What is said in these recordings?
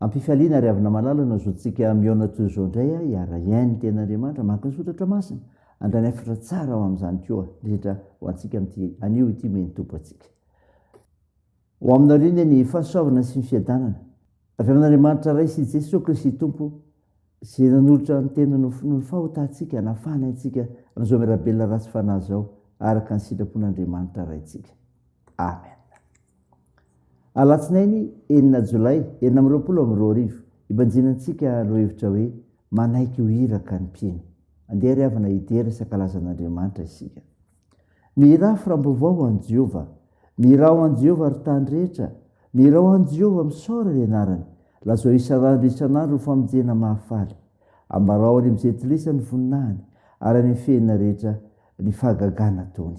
Ampifaliana ry havana malala no azotsika mihaona toy izao indray a hiara hiaino ny tena Andriamanitra mankazotra tra masina andrany hafatra tsara ho amin'izany koa indrindra ho antsika amin'ity anio ity omeny tompo antsika ho aminareo iny ny fahasoavana sy ny fiadanana avy amin'Andriamanitra Ray sy Jesoa Kristy Tompo sy nanolotra ny tena no finoan'ny fahotantsika nafana antsika amin'izao mirabelona ratsy fanahy izao araka ny sitrapon'Andriamanitra Raintsika Amen Alatsinainy enina jolay enina amby roapolo amby roa arivo, ibanjinantsika lohahevitra hoe Manaiky ho Iraka ny Mpino. Andeha ry havana hidera sy hankalaza an'Andriamanitra isika. Mihirà ho firaim-baovao ho an'i Jehovah. Mihirà ho an'i Jehovah ry tany rehetra. Mihirà ho an'i Jehovah, misaora ny anarany. Lazao isan'andro isan'andro ho famonjena mahafaly. Ambarao any amin'ny Jentilisa ny voninahiny, ary any amin'ny fehiny rehetra ny fahagagana ataony.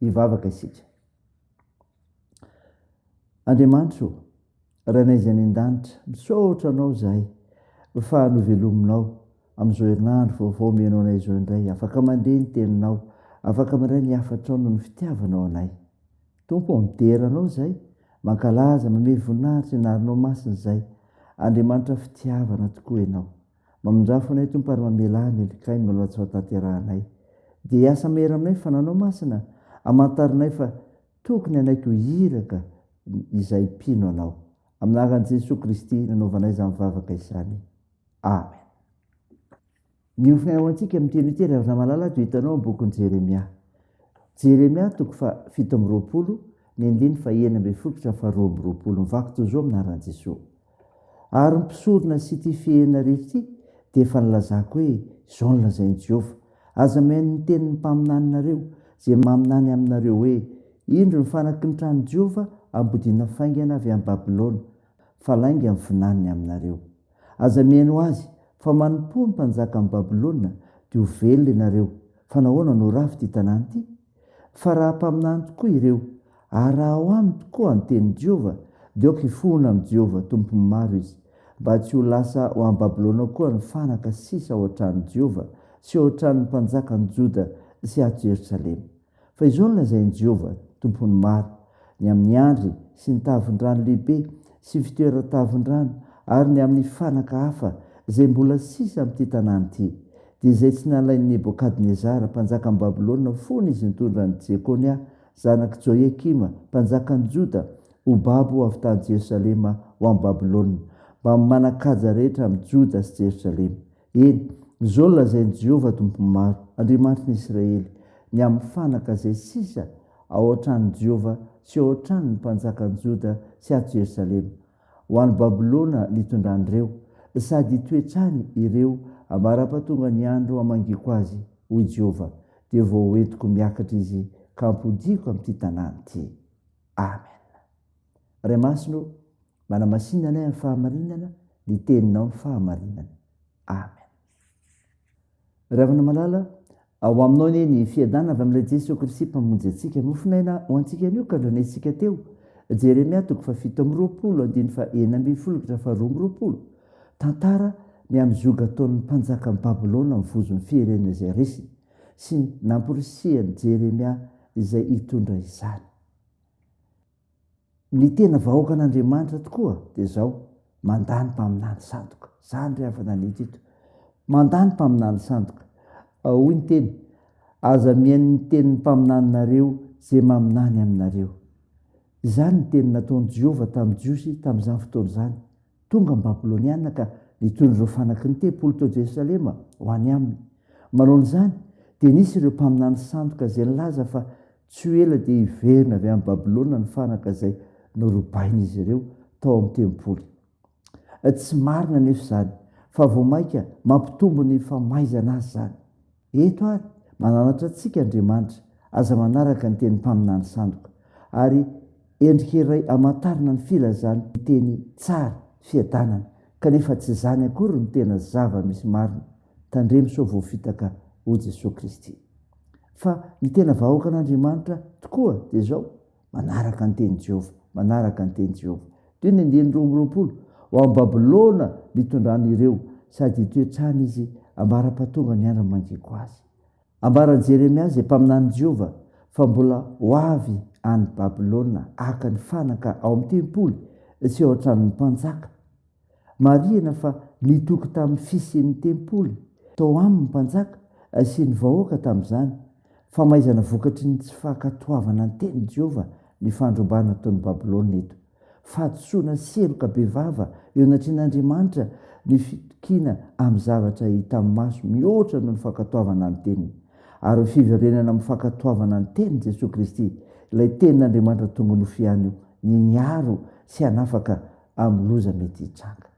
Hivavaka isika. Andriamanitro, Rainay izay any an-danitra, misaotra Anao izahay fa novelominao amin'izao herinandro vaovao omenao anay izao indray. Afaka mandre ny Teninao, afaka mandray ny hafatrao noho ny fitiavanao anay. Tompo ô, midera Anao izahay, mankalaza, mamehy voninahitra ny anaranao masina izahay. Andriamanitra fitiavana tokoa Ianao. Mamindrafo anay Tompo ary mamelà ny helikay mialoha tsy hotaterahanay. Dia hiasa mahery aminay ny fananao masina, amantarinay fa tokony hanaiky ho iraka izay mpino anao. Amin'ny anaran'i Jesoa Kristy nanaovanay izany vavaka izany. Amen. Miompfina ho antsika amin'ny teny tery avy malala dia hitanao amin'ny bokin'i Jeremia. Jeremia toko fa fito amby roapolo, ny andiny fa enina ambin'ny folo ka faharoa amby roapolo. Mivaky toy izao amin'ny anaran'i Jesoa. Ary ny mpisorona sy ity fihena rehetra ity dia efa nilazako hoe, Izao no lazain'i Jehovah, Aza mihaino ny tenin'ny mpaminaninareo, izay maminany aminareo hoe, Indro ny fanaky ny tranon'i Jehovah ambodiana faingana avy any Babylona, fa lainga ny vinaniny aminareo. Aza mihaino azy, fa manompoa ny mpanjakan'i Babylona, dia ho velona ianareo. Fa nahoana no rafy ity tanàna ity? Fa raha mpaminany tokoa ireo, ary raha ao aminy tokoa ny tenin'i Jehovah, dia aoka hifohona amin'i Jehovah Tompon'ny maro izy, mba tsy ho lasa ho any Babylona koa ny fanaka sisa ao an-tranon'i Jehovah sy ao an-tranon'ny mpanjakan'i Joda sy ato Jerosalema. Fa izao no lazain'i Jehovah Tompon'ny maro, Ny amin'ny andry sy ny tavin-drano lehibe sy fitoeran-tavin-drano ary ny amin'ny fanaka hafa izay mbola sisa amin'ity tanàna ity, dia izay tsy nalain'i Nebokadnezara mpanjakan'i Babylona fony izy nitondra an'i Jekonia zanak'i Joiakima mpanjakan'i Joda ho babo avy tany Jerosalema ho any Babylona, mbamin'ny manan-kaja rehetra amin'i Joda sy Jerosalema. Eny, izao no lazain'i Jehovah Tompon'ny maro, Andriamanitr'i Israely, Ny amin'ny fanaka izay sisa ao an-tranon'i Jehovah sy ao an-tranon'ny mpanjakan'i Joda sy ato Jerosalema, Ho any Babylona no itondrany ireo, sady hitoetra any ireo ambara-pahatonga ny andro hamangiako azy, hoy Jehovah, dia vao hoentiko miakatra izy ka hampodiako amin'ity tanàna ity. Amen. Ray Masina ô, Manamasina anay amin'ny fahamarinana ny teninao ny fahamarinana. Amen. Ravana malala, ao aminao anie ny fiadana avy amin'ilay Jesoa Kristy mpamonjy antsika. Mofonaina ho antsika anio ka andrenesika teo. Jeremia toko fa fito amin'ny roapolo, andiny fa enina ambin'ny folo ka fa roa amin'ny roapolo. Tantara ny amin'ny zoga ataon'ny mpanjaka ny Babylona amin'ny vozon'ny firenena izay resiny sy ny namporisihan'i Jeremia izay hitondra izany. Ny tena vahoakan'Andriamanitra tokoa dia izao, mandà ny mpaminany sandoka. Izany re efa nanita eto. Mandà ny mpaminany sandoka. Hoy ny teny, Aza mihaino ny tenin'ny mpaminaninareo izay maminany aminareo. Izany no teny nataon'i Jehovah tamin'ny Jiosy tamin'izany fotoana izany. Tonga ny Babylonianina ka nitohin'ireo fanaky ny tempoly teo Jerosalema ho any aminy. Manoana izany, dia nisy ireo mpaminany sandoka izay nilaza fa tsy ho ela dia hiverina avy any Babylona ny fanaka izay norobain'izy ireo tao amin'ny tempoly. Tsy marina anefa izany, fa vao mainka mampitombo ny famaizana azy izany. Eto ary, mananatra antsika Andriamanitra, aza manaraka ny teny mpaminany sandoka, ary endrika iray amantarana ny filazany ny teny tsara, fiadanana, kanefa tsy izany akory no tena zava-misy marina, tandremo sao voafitaka ho Jesoa Kristy. Fa ny tena vahoakan'Andriamanitra tokoa dia izao, Manaraka ny tenin'i Jehovah, manaraka ny tenin'i Jehovah. Toy ny andiany roa amby roapolo, Ho any Babylona nitondrany ireo, sady hitoetsany izy ambara-pahatonga ny andro mangiko azy. Ambaran'i Jeremia izay mpaminanin'i Jehovah fa mbola ho avy any Babylona haka ny fanaka ao amin'ny tempoly sy ao an-tranon'ny mpanjaka Marihina fa nitoky tamin'ny fisian'ny tempoly tao aminy mpanjaka sy ny vahoaka tamin'izany famaizana vokatry ny tsy fankatoavana ny tenin'i Jehovah ny fandrobana ataon'i Babylona eto. Fahadisoana seroka bevava eo anatrehan'Andriamanitra ny fitokiana amin'ny zavatra hita amin'ny maso mihoatra noho ny fankatoavana ny teniny. Ary fiverenana amin'ny fankatoavana ny tenin'i Jesoa Kristy, ilay tenin'Andriamanitra tonga nofo ihany io, ny hiaro sy hanafaka amin'ny loza mety hitranga.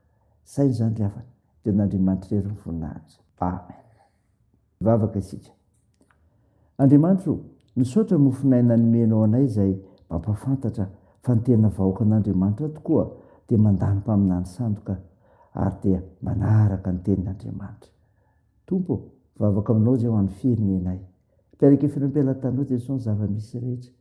Saingy izany ry havana dia an'Andriamanitra irery ny voninahitra. Amen. Hivavaka isika. Andriamanitra o, misaotra mofon'aina nomenao anay izay mampahafantatra fa ny tena vahoakan'Andriamanitra tokoa dia mandà ny mpaminany sandoka ary dia manaraka ny tenin'Andriamanitra. Tompo o, vavaka aminao izay ho an'ny firenenay. Tarika Finoam-pela Tanoa Jesosy ny zava-misy rehetra,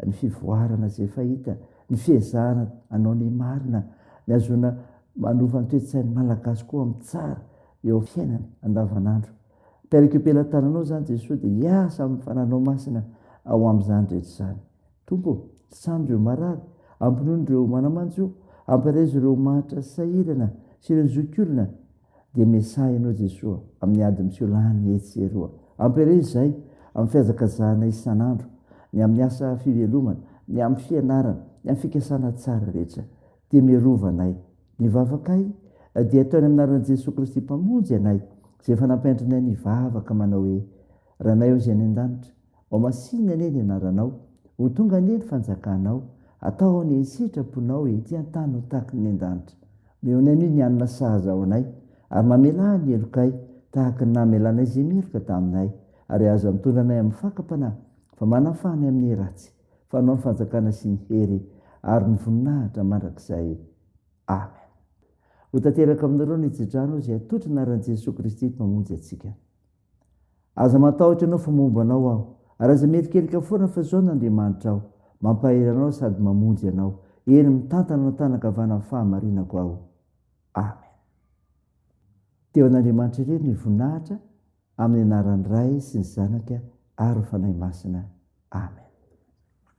ny fivoarana izay efa hita, ny fiezahana hanao ny marina, ny hahazoana manova ny toe-tsain'ny Malagasy koa amin'ny tsara eo amin'ny fiainany andavanandro. Tarika io pela tananao izany Jesosy dia hiasa amin'ny fananao masina ao amin'izany rehetra izany. Tompo ô, sitranio ireo marary, ampinono ireo manamanjo, ampirezo ireo mahantra sahirana sy ireo zokiolona, dia Mesaia ianao Jesoa amin'ny ady miseho lany etsy sy eroa. Ampiareo izay amin'ny fihazakazahana isan'andro, ny amin'ny asa fivelomana, ny amin'ny fianarana, ny amin'ny fikasana tsara rehetra. Dia miarova anay. Ny vavakay dia ataony amin'ny anaran'i Jesoa Kristy Mpamonjy anay izay efa nampianatrinay mivavaka manao hoe, Ranay ao izay any an-danitra, Ho masinina anie ny anaranao, ho tonga anie ny fanjakanao, atao anie ny sitraponao ety an-tany ho tahaky ny an-danitra. Omehonay anie ny hanina sahaza ho anay, ary mamelà ny helokay tahaky ny namelanay izay meloka taminay, ary aza mitondra anay amin'ny fakam-panahy, fa manafaha ny amin'ny ratsy, fa anao ny fanjakana sy ny hery ary ny voninahitra mandrakizay. Amen. Ho tanteraka aminareo ny tsi-drano izay atolotry ny anaran'i Jesoa Kristy Mpamonjy antsika. Aza matahotra anao fa momba anao aho. Ary aza mierikerika foana fa izao n'Andriamanitra aho. Mampahery anao sady mamonjy anao. Eny, mitantana ny tànan-kavana amin'ny fahamarinako aho. Amen. Teo an'Andriamanitra irery ny voninahitra, amin'ny anaran'ny Ray sy ny Zanaka ary ny Fanahy Masina. Amen.